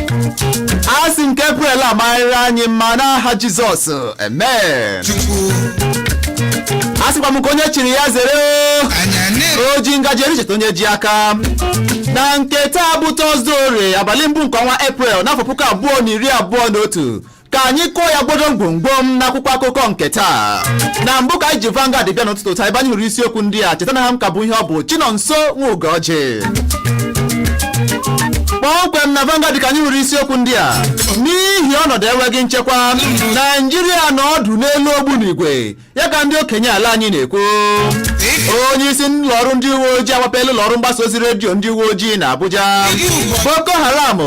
a sị nke Eprel amarịrị anyị mma n'aha Jizọs amen chukwu a sịkwa m ka onye chiri ya zere o. anya na-ebe o ji ngaji eri cheta onye ji aka na nke taa bụ tọzde ore abalị mbụ nke ọnwa eprel n'afọ puku abụọ na iri abụọ na otu ka anyị kụọ ya gbodom gbomgbom n'akwụkwọ akụkọ nke taa na mbụ ka anyị ji Vanguard bịa n'ụtụtụ taa ebe anyị hụrụ isiokwu ndị a cheta na aha m ka bụ ihe ọ bụ Chinonso nwa Ugorji kpọmkwem na Vanguard ka anyị hụrụ isiokwu ndị a n'ihi ọnọdụ enweghị nchekwa Naijiria nọ ọdụ n'elu ogbunigwe ya ka ndị okenye ala anyị na-ekwu onye isi ụlọ ọrụ ndị uwe ojii agbapela ụlọ ọrụ mgbasa ozi redio ndị uwe ojii na Abuja Boko Haram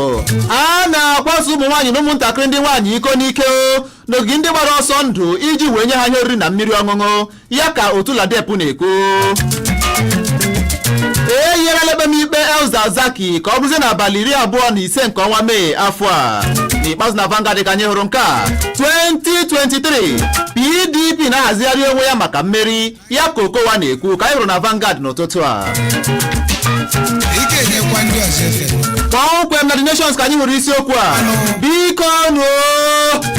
a na-akwaso ụmụ nwaanyị na ụmụntakịrị ndị nwaanyị iko n'ike o, n'ogige ndị gbara ọsọ ndụ iji wee nye ha ihe oriri na mmiri ọṅụṅụ ya ka otu LADEP na-ekwu eyiela ekpemikpe El-Zakzaky ka ọ bụrụzie n'abalị iri abụọ na ise nke ọnwa Mee afọ a n'ikpeazụ na Vanguard ka anyị hụrụ nke a 2023 PDP na-ahazigharị onwe ya maka mmeri ya ka Okowa na-ekwu ka anyị hụrụ na Vanguard n'ụtụtụ a kpọmkwem na the nations ka anyị hụrụ isiokwu a biko nu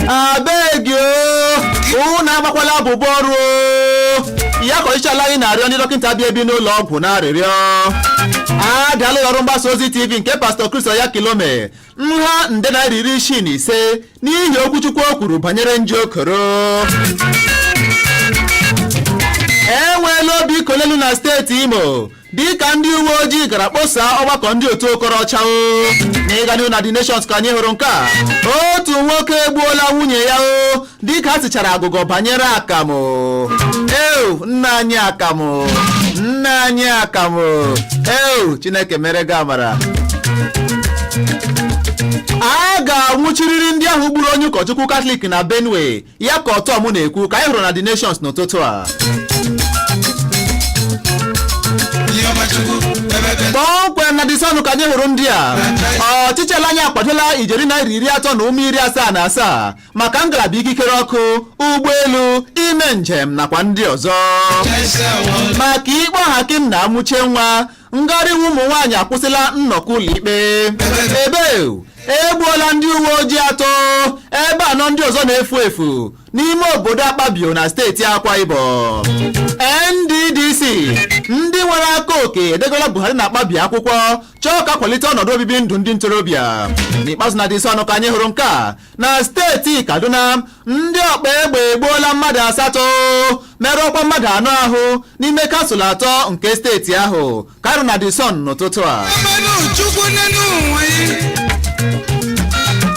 abegi unu agbakwala abụbọ ọrụ ya ka ọchịchị ala anyị na-arịọ ndị dọkịta bi ebi n'ụlọ ọgwụ n'arịrịọ adaala ụlọ ọrụ mgbasa ozi tv nke pastọ Chris Oyakhilome nha nde naira iri isii na ise n'ihi okwuchukwu o kwuru banyere nje koro enweela obi kolelu na steeti imo dịka ndị uwe ojii gara kposaa ọgbakọ ndị otu okorocha o n'ịga n'ihu na the nations ka anyị hụrụ nke a otu nwoke egbuola nwunye ya o dịka ha sichara agụgọ banyere akamụ eu nna anyị akamụ nna anyị akamụ eu chineke meere gị amara a ga-anwụchiriri ndị ahụ gburu onye ụkọchukwu katọlik na benue ya ka ortom na-ekwu ka anyị hụrụ na the nations n'ụtụtụ a kpọmkwem na the sun ka anyị hụrụ ndị a ọchịchị ala anyị akwadola ijeri naira iri atọ na ụma iri asaa na asaa maka ngalaba ikikere ọkụ ụgbọelu ime njem nakwa ndị ọzọ maka ikpe ohakim na amuchienwa ngharị iwe ụmụ nwaanyị akwụsịla nnọkọ ụlọikpe ebe egbuola ndị uwe ojii atọ ebe anọ ndị ọzọ na-efu efu n'ime obodo akpabio na steeti akwa ibom nddc ndị nwere aka oke edegola buhari na akpabio akwụkwọ chọọ ka a kwalite ọnọdụ obibi ndụ ndị ntorobịa n'ikpeazụ na the sun ka anyị hụrụ nke a na steeti kaduna ndị ọkpa egbe egbuola mmadụ asatọ merụọkwa mmadụ anọ ahụ n'ime kansụl atọ nke steeti ahụ ka ọ ra na The Sun n'ụtụtụ a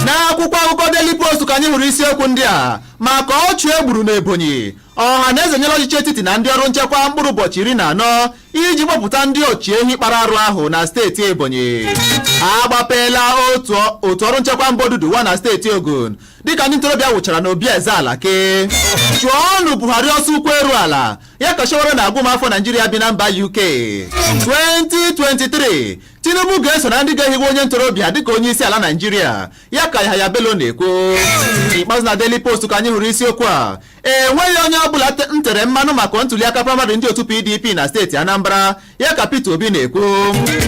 n'akwụkwọ akụkọ Daily Post ka anyị hụrụ isiokwu ndị a maka ọchụ e gburu n'Ebonyi Ọhanaeze enyela ọchịchị etiti na ndị ọrụ nchekwa mkpụrụ ụbọchị iri na anọ iji kpọpụta ndị ọchị ehi kpara arụ ahụ na steeti Ebonyi agbapeela otu ọrụ nchekwa mba Oduduwa na steeti Ogun dịka ndị ntorobịa wụchara n'obi eze Alake chụọnụ Buhari ọsọ ụkwụ eru ala ya ka Sowore na-agwa ụmụafọ Naijiria bi na mba UK 2023 tinubu ga-eso na ndị ga-ehiwe onye ntorobịa dịka onye isi ala naijiria ya ka Yahaya Bello na-ekwu ikpeazụ na Daily Post ka anyị hụrụ isiokwu a enweghị onye ọbụla m tere mmanụ maka ntuliaka praịmarị ndị otu PDP na steeti Anambra ya ka Peter Obi na-ekwu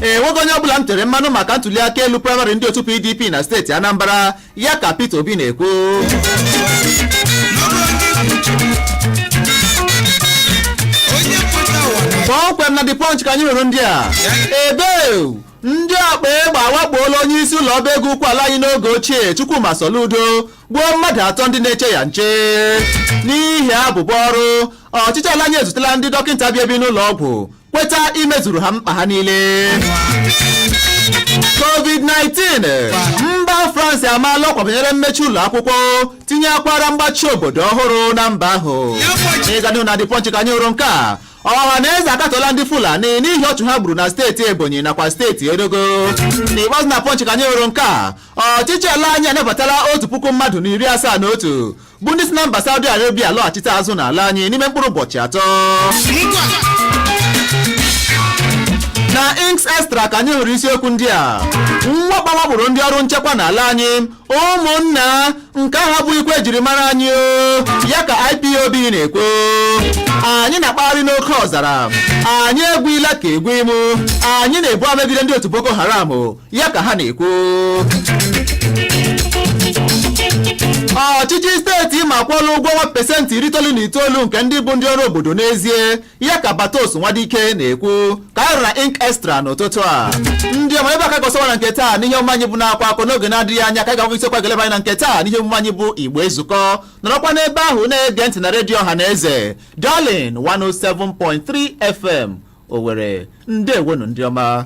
enweghị onye ọbụla m tere mmanụ maka ntuliaka elu praịmarị ndị otu PDP na steeti Anambra ya ka Peter Obi na-ekwu kpọmkwem na The Punch ka anyị hụrụ ndị a ebe ndị ọkpa egbe awakpoola onye isi ụlọ ọba ego ukwu ala anyị n'oge ochie Chukwuma Soludo gbuo mmadụ atọ ndị na-eche ya nche n'ihi abụbọ ọrụ ọchịchị ala anyị ezutela ndị dọkịta bi ebi n'ụlọ ọgwụ kweta imezuru ha mkpa ha niile covid-19 mba france amaala ọkwa banyere mmechi ụlọ akwụkwọ tinye akwara mgbachi obodo ọhụrụ na mba ahụ ịga n'ihu na The Punch ka anyị hụrụ nke a Ọhanaeze akatọla ndị fulani n'ihi ọchụ ha gburu na steeti ebonyi nakwa steeti enugu n'ikpeazụ na Punch ka anyị hụrụ nke a ọchịchị ala anyị anabatala otu puku mmadụ na iri asaa na otu bụ ndị si na mba Saudi Arabia lọghachite azụ n'ala anyị n'ime mkpụrụ ụbọchị atọ na Inks Extra ka anyị hụrụ isiokwu ndị a mwakpo a wakporo ndị ọrụ nchekwa n'ala anyị ụmụnna nke ahụ abụghịkwa ihe e jiri mara anyị o ya ka IPOB na-ekwu anyị na-akpagharị n'oke ọzara anyị egwuila ka egwu imu anyị na-ebu amegide ndị otu Boko Haram ya ka ha na-ekwu ọchịchị steeti Imo akwụọla ụgwọ ọnwa pesentị iri itoolu na itoolu nke ndị bụ ndị ọrụ obodo n'ezie ya ka batos nwadike na-ekwu ka ọ ra na Inks Extra n'ụtụtụ a ndị ọma ebe a ka ọ ga-asọwa na nke taa n'ihe omume anyị bụ na-akwa akọ n'oge na-adịghị anya ka anyị ga-agwa isiokwu a ga-eleba anya na nke taa n'ihe omume anyị bụ igbo ezukọ nọrọkwa n'ebe ahụ na-ege ntị na redio ọha na eze darlin 107.3 fm owere ndeewonụ ndị ọma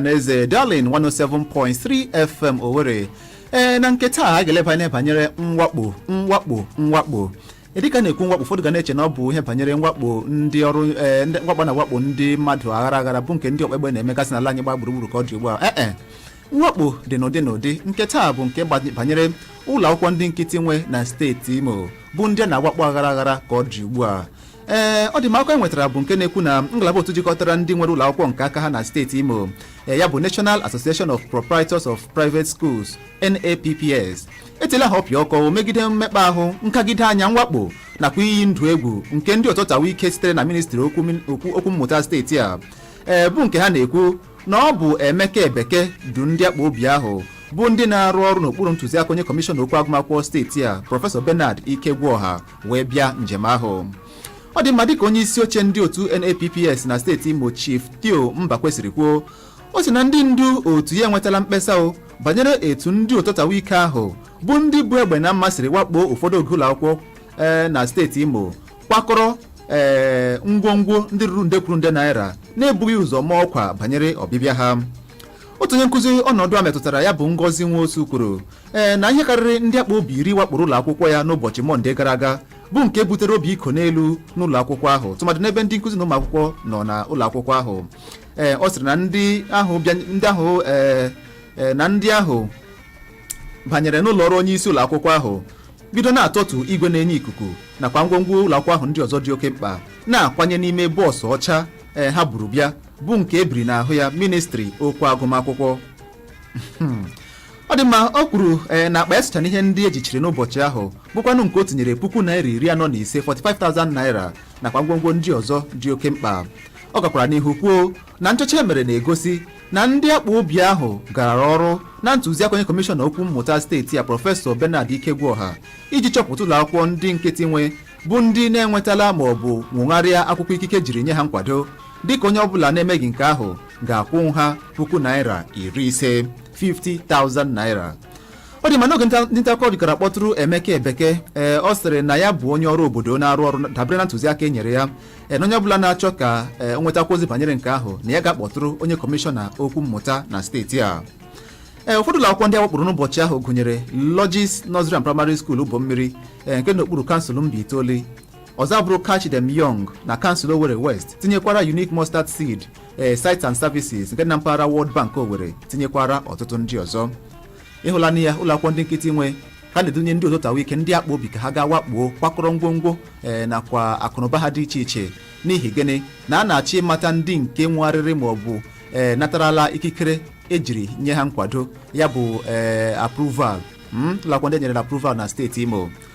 n'eze darling 107.3 fm owere ee na nke taa a ga-eleba anya banyere mwakpo mwakpo mwakpo dịka na-ekwu mwakpo ụfọdụ ga na-eche na ọ bụ ihe banyere mwakpo ndị ọrụ ee ndị mwakpo na mwakpo ndị mmadụ aghara aghara bụ nke ndị ọkpegbe na-emegasị n'ala anyị gba gburugburu ka ọ dị ugbu a ee e mwakpo dị n'ụdị n'ụdị nke taa bụ nke gba- banyere ụlọ akwụkwọ ndị nkịtị nwe na steeti imo bụ ndị a na-awakpo aghara aghara ka ọ dị ugbu a ee ọ dị mma akụkọ enwetara bụ nke na-ekwu na ngalaba otu jikọtara ndị nwere ụlọ akwụkwọ nke aka ha na steeti imo ee, ya bụ national association of proprietors of private schools napps etila ha ọpịa ọkụ megide mmekpa ahụ nkagide anya mwakpo nakwa iyi ndụ egwu nke ndị ọtọtawa ike sitere na ministri okwu min- okwu okwu mmụta steeti a ee bụ nke ha na-ekwu na ọ bụ emeka ebeke du ndị akpụ obi ahụ bụ ndị na-arụ ọrụ n'okpuru ntụziaka onye kọmishọna okwu agụmakwụkwọ steeti a prọfesọ bernard ikegwuọha wee bịa njem ahụ ọ dị mma dịka onye isi oche ndị otu NAPPS na steeti Imo Chief Theo Mbakwe siri kwuo ọ sị na ndị ndu otu ya enwetala mkpesa o banyere etu ndị ụtọtawa ike ahụ bụ ndị bu egbe na mma siri wakpo ụfọdụ oge ụlọ akwụkwọ ee na steeti Imo kwakọrọ ee ngwongwo ndị ruru nde kwuru nde naira na-ebughị ụzọ maa ọkwa banyere ọbịbịa ha otu onye nkụzi ọnọdụ a metụtara ya bụ Ngozi Nwosu kwuru ee na ihe karịrị ndị akpụ obi iri wakporo ụlọ akwụkwọ ya n'ụbọchị mọnde gara aga bụ nke butere obi iko n'elu n'ụlọ akwụkwọ ahụ tụmadị n'ebe ndị nkụzi na ụmụ akwụkwọ nọ n'ụlọ akwụkwọ ahụ ee ọ sịrị na ndị ahụ bịa ndị ahụ ee ee, na ndị ahụ banyere n'ụlọ ọrụ onye isi ụlọ akwụkwọ ahụ bido na-atọtu igwe na-enye ikuku nakwa ngwongwo ụlọ akwụkwọ ahụ ndị ọzọ dị oke mkpa na-akwanye n'ime bọọsụ ọcha ee ha buru bịa bụ nke ebiri n'ahụ ya ministri okwu agụmakwụkwọ ọ dị mma o kwuru ee na akpa ya socha n'ihe ndị ejichiri n'ụbọchị ahụ bụkwanụ nke o tinyere puku naira iri anọ na ise 45,000 naira nakwa ngwongwo ndị ọzọ dị oke mkpa ọ gakwara n'ihu kwuo na nchọcha emere na-egosi na ndị akpụ obi ahụ gara ọrụ na ntụziaka onye kọmishọna okwu mmụta steeti a prọfesọ Bernard Ikegwuọha iji chọpụta ụlọ akwụkwọ ndị nkịtị nwe bụ ndị na-enwetala ma ọ bụ nwogharịa akwụkwọ ikike jiri nye ha nkwado dịka onye ọbụla na-emeghị nke ahụ ga-akwụ ha puku naira iri ise 50,000 naira ọ dị mma n'oge nta- ndị nta akụkọ jikọrọ kpọtụrụ emeka ebeke ee ọ sịrị na ya bụ onye ọrụ obodo na-arụ ọrụ dabere na ntụziaka e nyere ya ee na onye ọbụla na-achọ ka ee, o nwetakwa ozi banyere nke ahụ na ya gaa kpọtụrụ onye kọmishọna okwu mmụta na steeti a ee ụfọdụ ụlọ akwụkwọ ndị awakporo n'ụbọchị ahụ gụnyere Logis Nursery and Primary School Ubomiri ee, nke n'okpuru kansụl Mbaitoli ọzọ abụrụ Catch Them Young na kansụl Owerri West tinyekwara Unique Mustard Seed ee sites and services nke dị na mpaghara World Bank Owerri tinyekwara ọtụtụ ndị ọzọ ị hụlanụ ya ụlọ akwụkwọ ndị nkịtị nwe ka a na-edunye ndị ozotawa ike ndị akpụ obi ka ha gaa wakpo kwakọrọ ngwongwo ee nakwa akụnụba ha dị iche iche n'ihi gịnị na a na-achọ ịmata ndị nke nwegharịrị ma ọ bụ ee natarala ikikere ejiri nye ha nkwado ya bụ ee approval mm, ụlọ akwụkwọ ndị enyerela approval na steeti Imo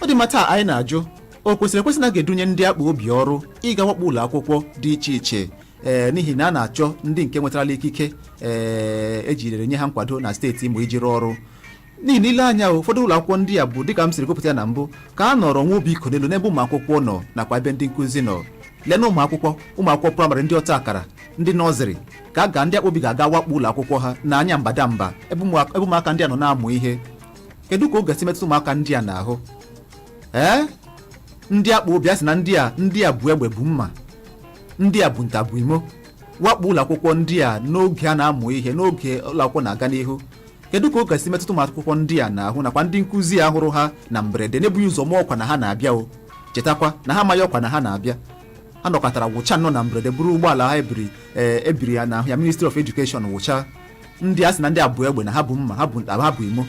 ọ dị mma taa anyị na-ajụ o kwesịrị ekwesị na a ga-edunye ndị akpụ obi ọrụ ịga wakpo ụlọ akwụkwọ dị iche iche ee n'ihi na a na-achọ ndị nke nwetarala ikike ee ejirere nye ha nkwado na steeti Imo iji rụọ ọrụ n'ihi na i lee anya ụfọdụ ụlọ akwụkwọ ndị a bụ dịka m siri gụpụta ya na mbụ ka a nọrọ nwa obi ịkọ n'elu n'ebe ụmụ akwụkwọ nọ nakwa ebe ndị nkụzi nọ lee na ụmụ akwụkwọ ụmụ akwụkwọ praịmarị ndị ọta akara ndị nọziri ka a ga ndị akpụ obi ga-aga wakpo ụlọ akwụkwọ ha na anya mbadamba ebe ụmụ- ebe ụmụaka ndị a nọ na-amụ ihe kedu ka ọ ga-esi metụta ụmụaka ndị a n'ahụ ee ndị akpụ obi a sị na ndị a ndị a bu egbe bu mma ndị a bu nta bu imo wakpo ụlọ akwụkwọ ndị a n'oge a na-amụ ihe n'oge ụlọ akwụkwọ na-aga n'ihu kedu ka ọ ga-esi metụta ụmụ akwụkwọ ndị a n'ahụ nakwa ndị nkụzi a hụrụ ha na mberede na-ebughị ụzọ maa ọkwa na ha na-abịa o chetakwa na ha amaghị ọkwa na ha na-abịa ha nọkatara wụcha nnọọ na mberede buru ụgbọala ha ebiri ee ebiri ya n'ahụ ya ministry of education wụcha ndị a sị na ndị a bu egbe na ha bu mma ha bu ha bu imo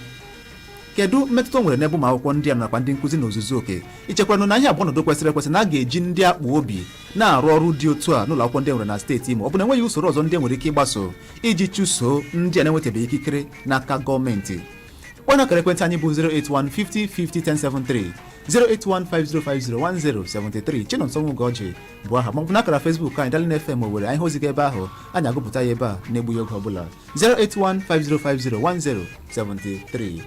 kedu mmetụta o nwere n'ebe ụmụ akwụkwọ ndị a nakwa ndị nkụzi n'ozuzu oke i chekwanụ na ihe a bụ ọnọdụ kwesịrị ekwesị na a ga-eji ndị akpụ obi na-arụ ọrụ dị otu a n'ụlọ akwụkwọ ndị e nwere na steeti imo ọ bụ na enweghị usoro ọzọ ndị e nwere ike ịgbaso iji chụso ndị a na-enwetabeghị ikikere n'aka gọọmenti kpọọnụ akara ekwentị anyị bụ 08150501073 08150501073 Chinonso Nwugoji bụ aha maọbụ n'akara Facebook anyị Darling FM Owerri anyị hụ ozi gị ebe ahụ anyị agụpụta ya ebe a na-egbughị oge ọbụla 08150501073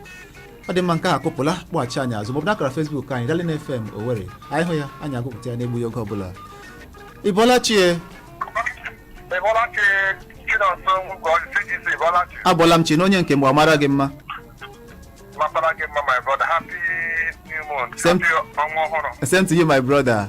ọ dị mma nke a akụpụla kpọghachi anyị azụ maọbụ n'akara Facebook anyị Darling FM Owerri anyị hụ ya anyị agụpụta ya na-egbughị oge ọbụla ị bọọla chie ị bọọla chi Chinonso Nwugwu CGC ị bọọla chi abọọla m chi na onye nke mgbe amara gị mma mapara gị mma my brother happy new month Same- happy ọnwa ọhụrụ same to you my brother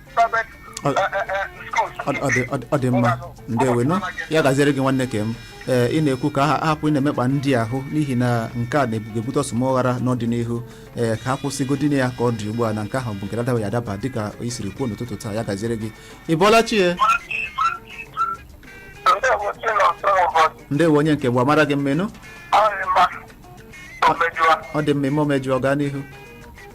private Ọ- eh, eh, eh, schools. Ọ- ọ dị- ọ dị- ọ dị mma ndewo nụ ya gaziere gị nwanne nke m ee ị na-ekwu ka ha hapụ ịna-emekpa ndị ahụ n'ihi na nke a na-ebute ọsụmọghara n'ọdịnihu ee ka ha kwụsịgodi nụ ya ka ọ dị ugbu a na nke ahụ bụ nke adabaghị adaba dịka i siri kwuo n'ụtụtụ taa ya gaziere gị ị bọọla chi ya Ndewo, si na ọsọ ụbọchị. ndewo onye nke bụ amara gị mmenụ Ọ dị mma. Omejuwa. ọ dị mma ime omejụọ gaa n'ihu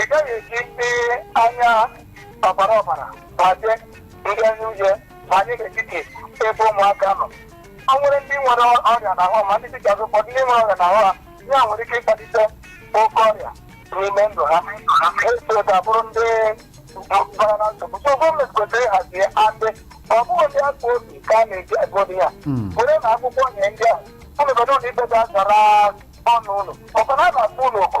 ị gaghị eji ndị anya ọbara ọbara gbaje ndị anya uhie banye n'etiti ebe ụmụaka nọ o nwere ndị nwere ọrịa n'ahụ ma ndị dịka ụfọdụ ndị nwere ọrịa n'ahụ ha ya nwere ike ịkpalite oke ọrịa n'ime ndụ ha eso ga-abụrụ ndị bara na nsogbu so gọọmenti kwesịrị ịhazi ya and ọ bụghị ndị akpa obi ka a na-eji agụ obi ya Mm. were na akwụkwọ nye ndị a ụlọ obodo ụlọ ikpe ga-azara ọnụ ụlọ ọkwa na a na-akpọ ụlọ ọkụ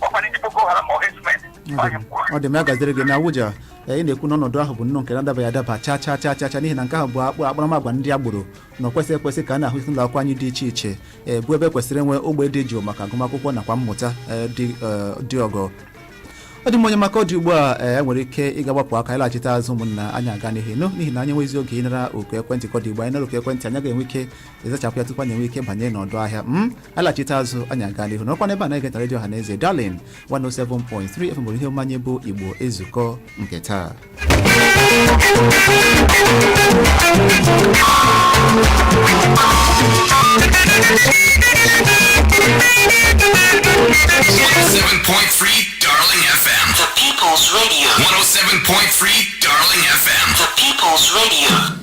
ọkwa ndị boko haram ọ herdsmen ọ dị mma ya gaziere gị na Abuja ee, ị na-ekwu na ọnọdụ ahụ bụ nnọọ nke na-adabaghị adaba chaa chaa chaa chaa chaa n'ihi na nke ahụ bụ akpụ akparamagwa ndị agboro na-ekwesịghị ekwesị ka a na-ahụ n'ụlọ akwụkwọ anyị dị iche iche ee, bụ ebe kwesịrị inwe ogbe dị jụụ maka agụmakwụkwọ nakwa mmụta ee, dị ee, dị ọgọ ọ dị mma onye m ka ọ dị ugbu a ee, e nwere ike ịga gbapụ aka ịlaghachite azụ ụmụnna anyị aga n'ihu n'ihi na anyị nweghịzi oge ịnara oku ekwentị ka ọ dị ugbu a anyị nara oku ekwentị anyị agaghị enwe ike ịzachapụ ya tupu anyị enwee ike ịbanye n'ọdụ ahịa m alachite azụ anyị aga n'ihu nọkwa n'ebe a na-egeta redio ọhaneze Darling 107.3 fm ihe omume anyị bụ igbo ezukọ nke taa Seven point three, Darling FM. The People's Radio. One oh seven point three, Darling FM. The People's Radio.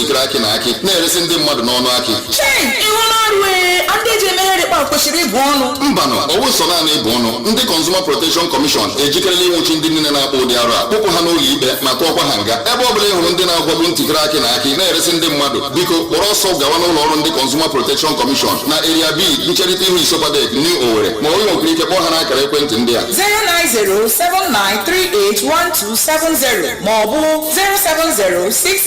ntikere akị na akị na-eresi ndị mmadụ n'ọnụ akị chei ihu n'ọrụ ee ndị ji eme nrịkpa kwesịrị ịbụ ọnụ mbanụ ọ wụghị sọ naanị ịbụ ọnụ ndị Consumer Protection Commission ejikerela ịnwụchi ndị niile na-akpa ụdị arụ a kpụpụ ha n'ụlọ ikpe ma tụọkwa ha nga ebe ọ bụla ị hụrụ ndị na-agwagbu ntikere akị na akị na-eresi ndị mmadụ biko kpọrọ ọsọ gawa n'ụlọ ọrụ ndị Consumer Protection Commission na Area B ncherịta ihu ISOPADEC New Owerri ma ọ bụ ị nwekwara ike kpọọ ha n'akara ekwentị ndị a 09079381270 maọbụ 07066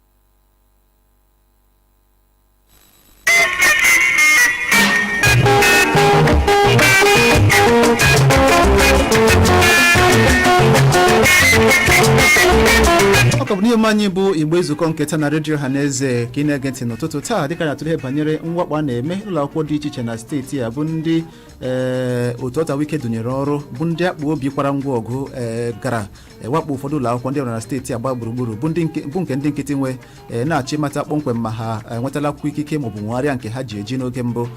ọ ka bụ n'ihe omume anyị bụ igbo ezukọ nke taa na redio ọhaneze ka ị na-ege ntị n'ụtụtụ taa dịka a na-atụle ihe banyere mwakpo a na-eme ụlọ akwụkwọ dị iche iche na steeti a bụ ndị ee otu ọtawike dunyere ọrụ bụ ndị akpa obi kwara ngwa ọgụ ee gara wakpo ụfọdụ ụlọ akwụkwọ ndị e nwere na steeti a gbaa gburugburu bụ ndị nke- bụ nke ndị nkịtị nwe ee, na-achọ ịmata kpọmkwem ma ha enwetala akwụkwọ ikike maọbụ nwegharịa nke ha ji eji n'oge mbụ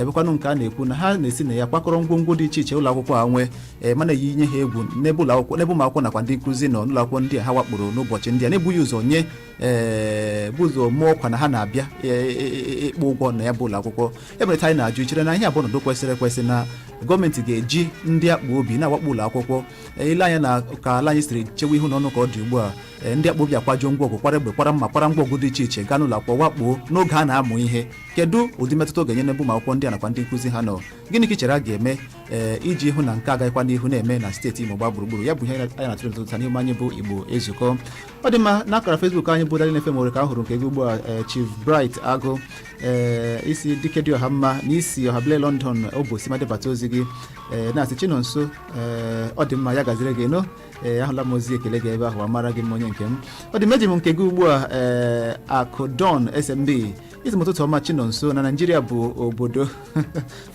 bụkwanụ nke a na-ekwu na ha na-esi na ya kwakọrọ ngwongwo dị iche iche ụlọ akwụkwọ a nwee ee, ma na-eyinye ha egwu n'ebe ụlọ akwụkwọ n'ebe ụmụ akwụkwọ nakwa ndị nkụzi nọ n'ụlọ akwụkwọ ndị a ha wakporo n'ụbọchị ndị a na-ebughị ụzọ nye ee, bu ụzọ maa ọkwa na ha na-abịa e- e- e- ịkpọ ụgwọ na ya bụ ụlọ akwụkwọ ebe anyị na-ajụ i chere na ihe a bụ ọnọdụ kwesịrị ekwesị na gọọmenti ga-eji ndị akpa obi na-awakpo ụlọ akwụkwọ Ee, ile anya na ka ala anyị siri chewe ihu n'ọnụ ka ọ dị ugbu a ee, ndị akpọ obi akwajuo ngwa ọgụ kwara egbe kwara mma kwara ngwa ọgụ dị iche iche gaa n'ụlọ akwụkwọ wakpoo n'oge a na-amụ ihe kedu ụdị mmetụta ọ ga-enye n'ebe ụmụ akwụkwọ ndị a nakwa ndị nkụzi ha nọ gịnị ka ị chere a ga-eme ee, iji hụ na nke a agaghịkwa n'ihu na-eme na steeti Imo gbaa gburugburu ya bụ ihe anyị na-atụrụ n'ụtụtụ a n'ihu anyị bụ Igbo ezukọ ọ dị mma na akara Facebook anyị bụ Darling FM nwere ka a hụrụ nke gị ugbu a ee, Chief Bright Agụ ee, isi dike dị ọha mma na isi ọha bile London Obosima debata ozi gị ee, na-asị Chinonso ee ọ dị mma ya gaziere gị nụ ee ahụla m ozi ekele gị ebe ahụ amara gị m onye nke m ọ dị mma eji m nke gị ugbu a ee akụdon smb ị sị m ụtụtụ ọma chinọnso na naijiria bụ obodo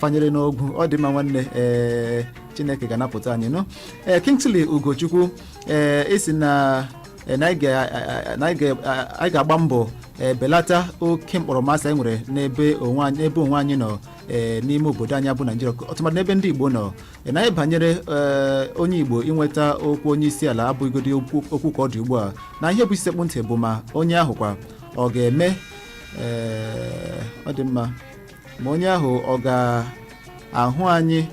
fanyere n'ogwu ọ dị mma nwanne ee chineke ga-anapụta anyị nụ ee kingsley ugochukwu ee ị sị na ee, na anyị ga- na anyị ga- anyị ga-agba mbọ ee, belata oke mkpọrọmasị anyị nwere n'ebe onwe anyị n'ebe onwe anyị nọ ee, n'ime obodo anyị bụ naijiria ọtụmadị n'ebe ndị igbo nọ na ihe banyere ee, onye igbo inweta ọkwa onye isi ala abụghịgodi okwu okwu ka ọ dị ugbu a na ihe bụ isi sekpụ ntị bụ ma onye ahụ kwa ọ ga-eme ee, ọ dị mma ma onye ahụ ọ ga-ahụ anyị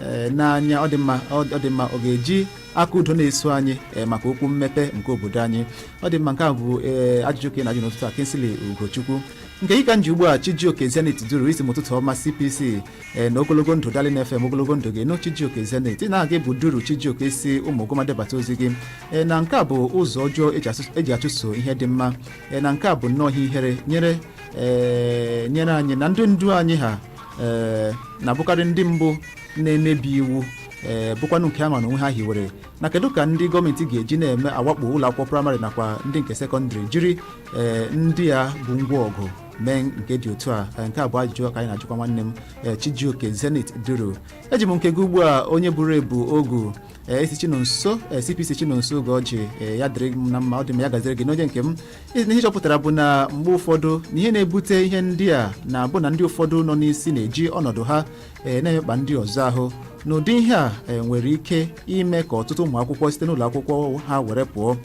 ee, n'anya ọ dị mma ọ ọ dị mma ọ ga-eji aka udo na-eso anyị ee, maka okwu mmepe nke obodo anyị ọ dị mma nke a bụ ee, ajụjụ ka ị na-ajụ n'ụtụtụ a Kingsley Ugochukwu nke gị ka m ji ugbu a Chijioke Zenith Duru ị sị m ụtụtụ ọma CPC ee na ogologo ndụ darling fm ogologo ndụ gị nụ chijioke zenith na aha gị bụ duru chijioke si ụmụguma debata ozi gị ee na nke a bụ ụzọ ọjọọ eji asụ- eji achụso ihe dị mma ee na nke a bụ nnọọ ihe ihere nyere ee nyere anyị na ndị ndu anyị ha ee na-abụkarị ndị mbụ na-emebi iwu ee bụkwanụ nke a ma na onwe ha hiwere na kedu ka ndị gọọmenti ga-eji na-eme awakpo ụlọ akwụkwọ praịmarị nakwa ndị nke sekọndịrị jiri ee ndị a bụ ngwa ọgụ mee nke dị otu a Eh, nke a bụ ajụjụ ka anyị na-ajụkwa nwanne m eh, chijioke zenith duru eji m nke gị ugbu a onye buru ebu ogu eh, ị sị chinonso eh, cpc chinonso ugọjị eh, ya dịrị m na mma ọ dị mma ya gaziere gị nụ onye nke m Ị- na ihe ị chọpụtara bụ na mgbe ụfọdụ na ihe na-ebute ihe ndị a na-abụ na ndị ụfọdụ nọ n'isi na-eji ọnọdụ ha eh, na-emekpa ndị ọzọ ahụ n'ụdị ihe a eh, nwere ike ime ka ọtụtụ ụmụ akwụkwọ site n'ụlọ akwụkwọ ha were pụọ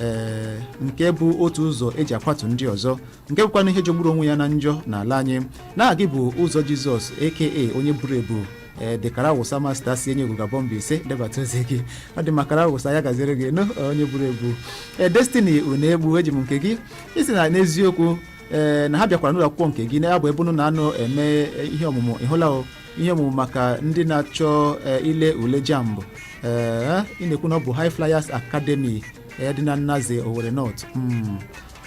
eh, nke bụ otu ụzọ eji akwatu ndị ọzọ nke bụkwanụ ihe jọgburu onwe ya na njọ n'ala anyị na aha gị bụ ụzọ jizọs aka onye buru ebu ee the ọkara awụsa masta si enyiogugu abọ mbaise debata ozi gị ọ dị mma ọkara awụsa ya gaziere gị nụ onye buru ebu ee destiny unegbu eji m nke gị ị sị na n'eziokwu ee na ha bịakwara n'ụlọ akwụkwọ nke gị na ya bụ ebe unu na-anọ eme ihe ọmụmụ ịhụla o ihe ọmụmụ maka ndị na-achọ ee, ile ule JAMB ee ị na-ekwu na ọ bụ high flyers academy ee, dị na naze owere north Mm.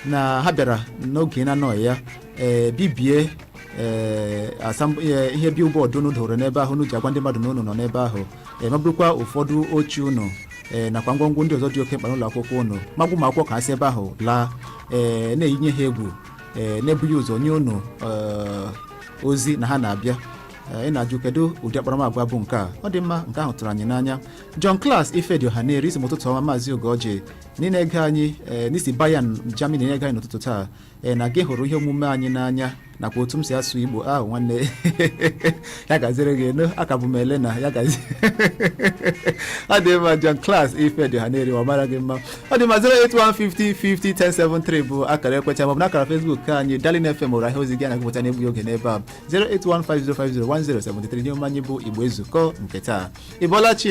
na ha bịara n'oge na-anọghị ya ee bibie ee asam- ee, ihe billboard unu doro n'ebe ahụ unu ji agwa ndị mmadụ na unu nọ n'ebe ahụ ee ma burukwa ụfọdụ oche unu ee nakwa ngwongwo ndị ọzọ dị oke mkpa n'ụlọ akwụkwọ unu ma gwa ụmụ akwụkwọ ka ha si ebe ahụ laa ee na-eyinye ha egwu ee n'ebughị ụzọ nye unu ee, ozi na ha na-abịa Ee, ị na-ajụ kedu ụdị akparamagwa bụ nke a ọ dị mma nke ahụ tụrụ anyị n'anya John Class Ifedioha na-eri ị sị m ụtụtụ ọma maazị Ugorji na ị na-ege anyị ee na i si Bayern Germany na-ege anyị n'ụtụtụ taa ee na gị hụrụ ihe omume anyị n'anya nakwa otu m si asụ Igbo ahụ nwanne ya gaziri gị enu aka bụ m ele na ya gazi ọ dị mma John Class Ifedioha na-eri ọ mara gị mma ọ dị mma 08150501073 bụ akara ekwentị maọbụ n'akara Facebook ka anyị Darling FM Owerri ahịa ozi gị na-agụpụta n'egbughị oge n'ebe a 08150501073 ihe omume anyị bụ Igbo Ezukọọ nke taa ị bọọla chi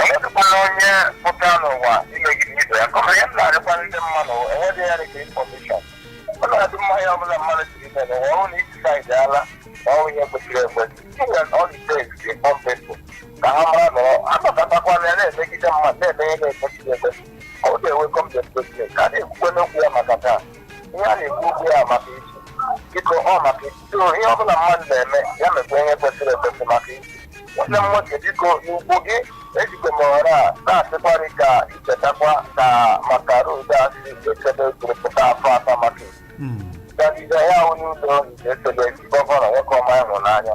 enwedịkwana onye pụta n'ụwa imegide ibe ya kọma ya na-arịkwa ndị mmadụ enweghị ya dịka infọmeshọn ọ na-adị mma ya ọbụla mmadụ siri ime n'ụwa ọ na isi saịdị ala ma ọ ihe kwesịrị ekwesị inwe ọdịtes dị pọmpepụ ka ha mara nọrọ anọkatakwana ya na-emegide mmadụ na-eme ihe na-ekwesịghị ekwesị ọ ga-enwe kọmdepụtesi ka a na-ekwukwe n'okwu ya maka taa ihe a na-ekwu okwu ya maka echi biko ọ maka echi so ihe ọ bụla mmadụ na-eme ya mekwa ihe kwesịrị ekwesị maka echi nwanne m nwoke biko Ugorji ejikwa m ohere a na-asịkwa gị ka i chetakwa ka maka road a si echebe jiri pụta afọ atọ maka isi gagide ya ahụ n'ụlọ ọrụ esi echebe gọvanọ nwoke ọma ịhụnanya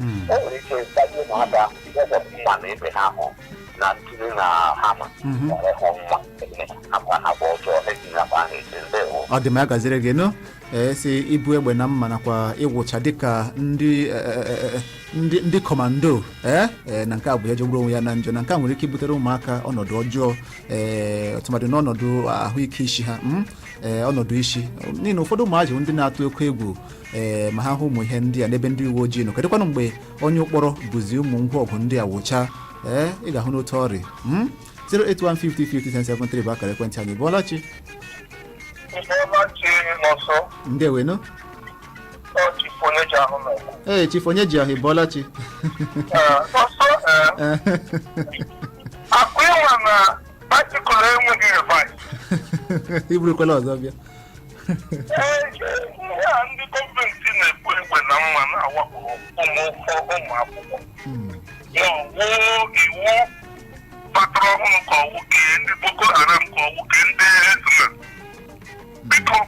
Mm. o nwere ike ịtaji ụmụaka ihe bụ mma na ebe ha hụ na ntụli na hama Mhm. were hụ mma ebe ha bụ ha bụ ọjọọ eji na bụ ahụ eche ndewo ọ dị mma ya gaziri gị nụ ee si ibu egbe na mma nakwa ịwụcha dịka ndị eh, eh, eh, ndị ndị kọmando ee eh, na nke a bụ ihe jọgburu onwe ya na njọ na nke a nwere ike ibutere ụmụaka ọnọdụ ọjọọ ee tụmadị n'ọnọdụ ahụike isi ha mm, eh, ọnọdụ isi n'ihi na ụfọdụ ụmụazị bụ ndị na-atụ oke egwu ee ma ha hụ ụmụ ihe ndị a n'ebe ndị uwe ojii nọ kedụkwanụ mgbe onye ụkpọrọ buzi ụmụ ngwa ọgụ ndị a wụcha ee ị ga-ahụ n'otu ọ dị mm? 08150501073 bụ akara ekwentị anyị ị bọọla chi bọọla chi n'ọsọ ndewo nụ ọ chifu onye ji ahụ na-ekwu. ee chifu onye ji ahụ ị bọọla chi N'ọsọ ee, akụ ịnwa na baịsikụl enweghị rivas. iburukwala ọzọ bịa Ee, ihe a ndị gọọmenti na-ekwu egbe na mma na-awakpo ụmụ ụmụ akwụkwọ ya ọ wụ iwu batara ọhụrụ ka ọ wụ kee ndị boko haram ka ọ wụ kee ndị hezbollah biko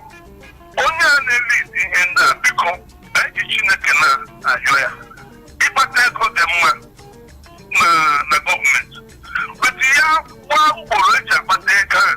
onye a na-elid ihe ndị a biko eji chineke na-ayọ ya ịkpata ego dị mma na na gọọmenti but ya gbaa ugboro eji akpata ego a